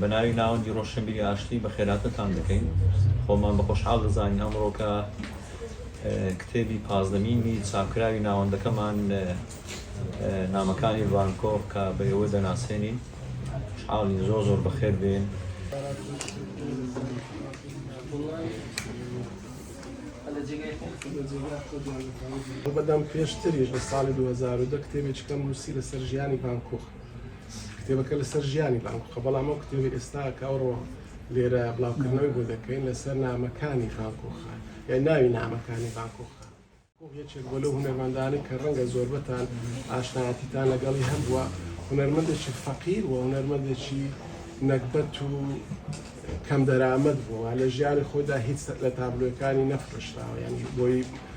بە ناوی ناوەندی ڕۆشنبیری ئاشتی بەخێرهاتنتان دەکەین. خۆمان بە خۆشحاڵ دەزانین ئەمڕۆ کە کتێبی پازدەمینی چاپکراوی ناوەندەکەمان نامەکانی ڤان کۆغ کە بە ئێوە دەناسێنین. خوشحاڵین زۆر زۆر بەخێر بێن. بەدەم پێشتریش لە ساڵی 2010 کتێبێکی کەم نووسی لەسەر ژیانی ڤان کۆغ. کتێبەکە لەسەر ژیانی بانکوکە بەڵام ئەو کتێبی ئێستا کە ئەوڕۆ لێرە بڵاوکردنەوەی بۆ دەکەین لەسەر نامەکانی بانکۆخە یا ناوی نامەکانی بانکۆخە یەکێک بۆ لەو هونەرمەندانی کە ڕەنگە زۆربەتان ئاشنایەتیتان لەگەڵی هەبووە هونەرمەندێکی فەقیر و هونەرمەندێکی نەگبەت و کەم دەرامەت بووە لە ژیانی خۆدا هیچ لە تابلۆەکانی نەفرۆشراوە ینی بۆی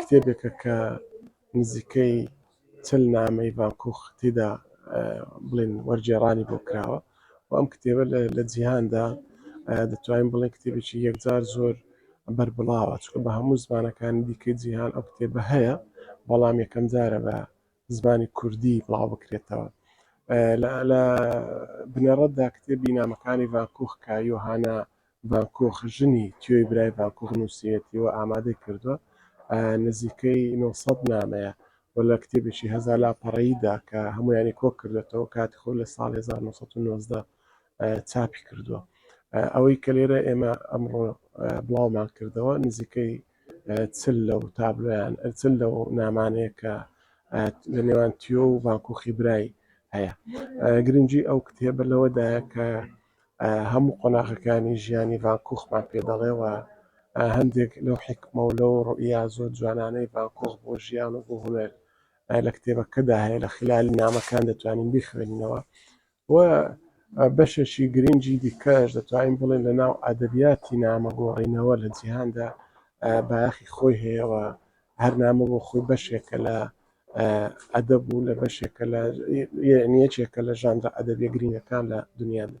کتێبێکە کە نزیکەی چل نامەی ڤان کوخ تێدا بڵێن وەرگێڕانی بۆ کراوە و ئەم کتێبە لە جیهاندا دەتوانین بڵێن کتێبێکی یەکجار زۆر بەربڵاوە چکە بە هەموو زمانەکانی دیکەی جیهان ئەو کتێبە هەیە بەڵام یەکەم جارە بە زمانی کوردی بڵاو بکرێتەوە لە بنەڕەتدا کتێبی نامەکانی ڤان کوخ کە یۆهانا باکوخ ژنی تیۆی برای باکوخ نووسیوێتی و ئامادەی کردووە، نزیکەی نۆ سەد نامەیە و لە کتێبێکی هەزار لاپەڕەییدا کە هەموویانی کۆ کردۆتەوە کاتی خۆی لە ساڵی هەزار و نۆ سەد و نۆزدە چاپی کردووە. ئەوەی کە لێرە ئێمە ئەمڕۆ بڵاومان کردەوە نزیکەی چل لەو تابلۆیان چل لەو نامانەیە کە لە نێوان تیۆ و باکوخی برای هەیە. گرنگی ئەو کتێبە لەوەدایە کە هەموو قۆناغەکانی ژیانی ڤان کوخمان پێ دەڵێ و هەندێک لەو حیکمە و لەو ڕوئیا زۆر جوانانەی ڤان کوخ بۆ ژیان و بۆ هونەر لە کتێبەکەدا هەیە لە خیلالی نامەکان دەتوانین بیخوێنینەوە و بەشێکی گرنگی دیکەش دەتوانین بڵێن لە ناو ئەدەبیاتی نامە گۆڕینەوە لە جیهاندا بایەخی خۆی هەیەەوە هەرنامە بۆ خۆی بەشێکە لە ئەدەب و لە بەشێکە لە یعنی یەکێکە لە ژانرە ئەدەبیە گرینگەکان لە دنیادا.